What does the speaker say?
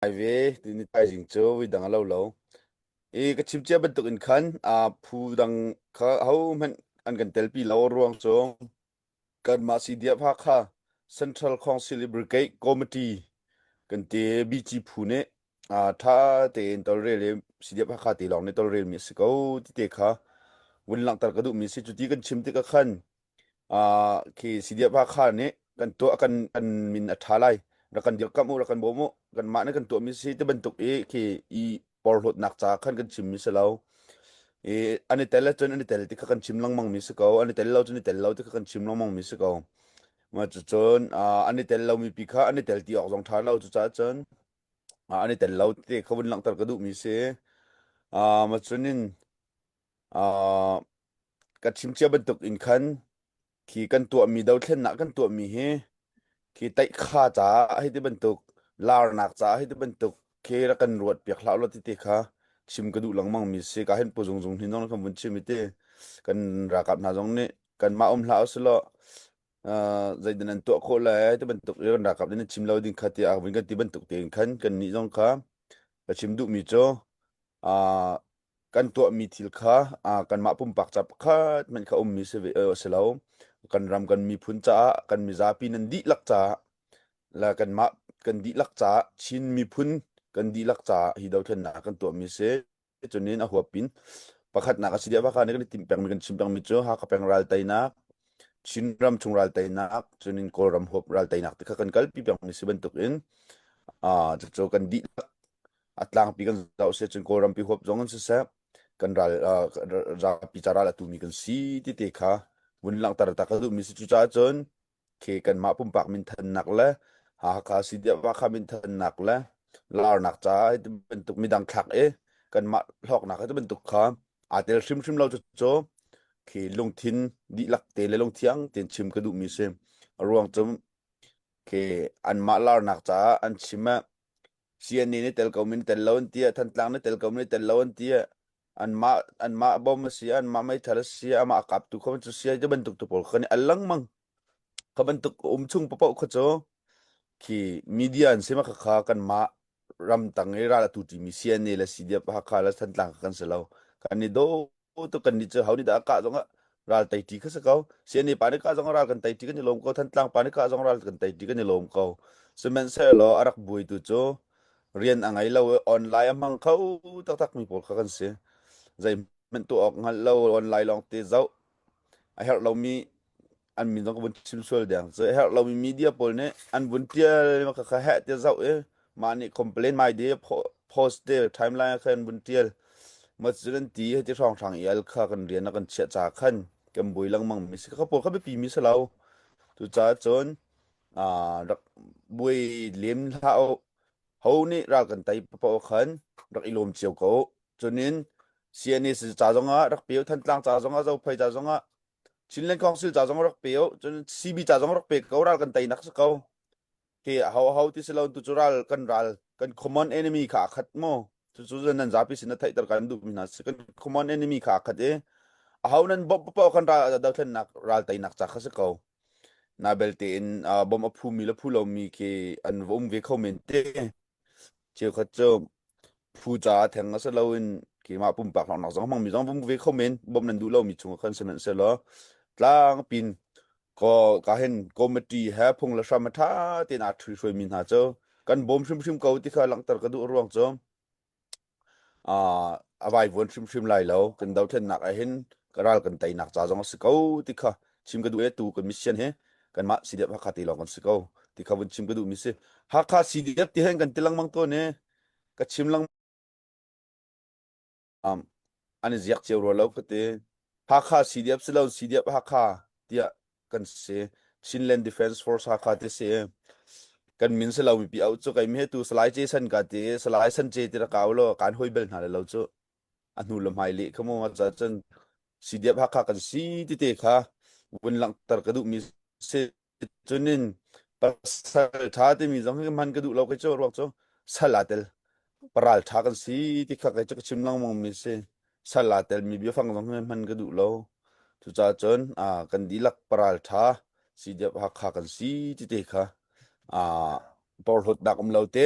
Ai ve, tuni thaizing cu vidang a lo lo. I ka chimcia bantukin khan a phu dang kha hohmanh an kan telpi lo ruang cu kanmah CDF kha Central Council i Brigade Committee kan te BG phu nih a tha tein tolrel i CDF kha te lawng nih tolrelmi a si ko ti te kha vun langhter ka duhmi a si. Cuti kan chim tikah khan uh, khi sidiapa kha ne kan to kan kan min a tha lai ra kan dir kam u ra kan bom u kan ma ne kan to mi si te bantuk e khi i porhlot nak cha khan kan chim mi se lo e ani tel chun ani tel ti kha kan chim lang mang mi se ko ani tel lo chun ani tel lo ti kha kan chim lang mang mi se ko ma chu chun ani tel lo mi pi kha ani tel ti ok jong tha lo chu cha chun ani tel lo ti khavun lang tar ka du mi se a ma chunin Ah, ka chim cia bantuk in khan khi kan tuahmi dothlennak kan tuahmi hi khi taihkha caah hei ti bantuk larnak caah hei ti bantuk khi rak kan ruat piak hlah law ti ti kha chim ka duh lengmang mi si ka hen pu zung zung hi nong kan vun chim i ti kan ralkap hna zong nih kanmah um hlah usilaw uh, zeitin an tuah khawh lai ti bantuk i kan ralkap nih chim lo ding kha ti a vun kan ti bantuk tein khan kan nih zong kha ka chim duhmi cu uh, kan tuahmi thil kha uh, kanmah pumpak ca pakhat hmanh kha ummi si ve a si lo kan ram kan miphun caah kan mizapi nan dihlak caah la kanmah kan dihlak caah Chin miphun kan dihlak caah hi dothlennak kan tuahmi si cunin a huapin pakhatnak a si dia baka ne kan tim peng mi kan chim peng mi cu haka peng ral tainak Chin ram chung ral tainak cunin Kawlram huap ral tainak ti kha kan kalpi peng mi si bantuk in uh, cu kan dihlak a tlangpi kan zoh seh cun kawlrampi huap zong an siseh kan ral rapi ca ral a tumi kan si tite kha vun langhter ta ka duhmi si cucaah cun ke kanmah pumpak minthannak le Hakha Sidiawa kha minthannak le larnak caah ti bantuk midang thlak i kanmah hlawknak ti bantuk kha aa tel hrimhrim lo cu ke lungthin dihlak te le lungthiang ten chim ka duhmi si ruang cu ke anmah larnak caah an chim Siani na tel ko min tel lo an tiah Thantlang na tel ko min tel lo an tiah anmah anmah bom a si anmah meithal a si amah a kap tu kho cu sia cu bantuk tu pawl kha ni alang mang kha bantuk um chung papo kha cu khi media an sima kha kan ma ram tang i ral atu ti mi siani le si dia hakha le thantlang kan si lo kan ni do aw to kan ni chu hauni da ka zong ral tai ti kha sa ko si ni pa ni ka zong ral kan tai ti kan ni lom ko than tlang pa ni ka zong ral kan tai ti kan ni lom ko semen se lo arak buai tu chu rian angai lo online amang kho tak tak mi pol kha kan si zai men tu ok ngal lo online long te zau a her lo mi an min zong ka vun chim sual deng so herh lomi media pawl nih an vun tial ma ka kha heh ti zau i ma nih complain mai de post te timeline kha an vun tial ma cu nan ti heti hrang hrang i al kha kan rian kan chiah cha khan kan bui langmang mi si ka pawl kha bipi mi se lo tu ca cun a rak bui lem hlau ho nih ra kan tai pa khan rak ilom cio ko chunin CNS ca zongah rak pio than tlang ca zongah zo phai ca zongah Chinland Council ca zong rak pe u cun CB ca zong rak pe ko ral kan tei nak si ko te a ho ho ti si lo tu cu ral kan ral kan common enemy kha a khat mo tu cu zan nan zapi sin na theih tar kan duh mi hna si kan common enemy kha a khat e a ho nan bop pa kan ral da thlen nak ral tei nak cha kha si ko na belte in bom a phu mi le phu lo mi ke an vom ve kho men te cheu khat chu phu caah theng a si loin keimah pumpak lawnglawng zong hmangmi zong vung ve kho men bawmh nan duh lomi chung khan si nan se law tlang pin ko ka hen committee he phung le hram a ṭha tein aa ṭhui hruaimi hna cu kan bawm hrimhrim ko ti kha langhter ka duh ruang cu a vai vuan hrimhrim lai lo kan dothlennak ah hin ka ral kan teinak ca zong a si ko ti kha chim ka duh e tu kan mission he kanmah CDF Hakha te lawng kan si ko ti kha vun chim ka duh mi si Hakha CDF ti hen kan ti langmang to ne ka chim lang um an ziak cio ro lo ka te Hakha CDF si lo CDF Hakha tia kan si Chinland Defense Force Hakha te si kan min se lo mi pi au chu kai me tu salai Jason ka te salai san che ti ra kaw lo kan hoi bel hna le lo chu a hnu le hmai leh kha maw ca cun si diap hakha kan si tete kha vun langhter ka duh mi si cun in pasal tha timi zong hi hman ka duh lo kai cu ruak cu sal a tel paral tha kan si ti kha kai cu ka chim langmang mi si sal a tel mi bia fang zong hi hman ka duh lo cuca cun a kan dilak paral tha si diap hakha kan si tete kha a porhlot dak um lo te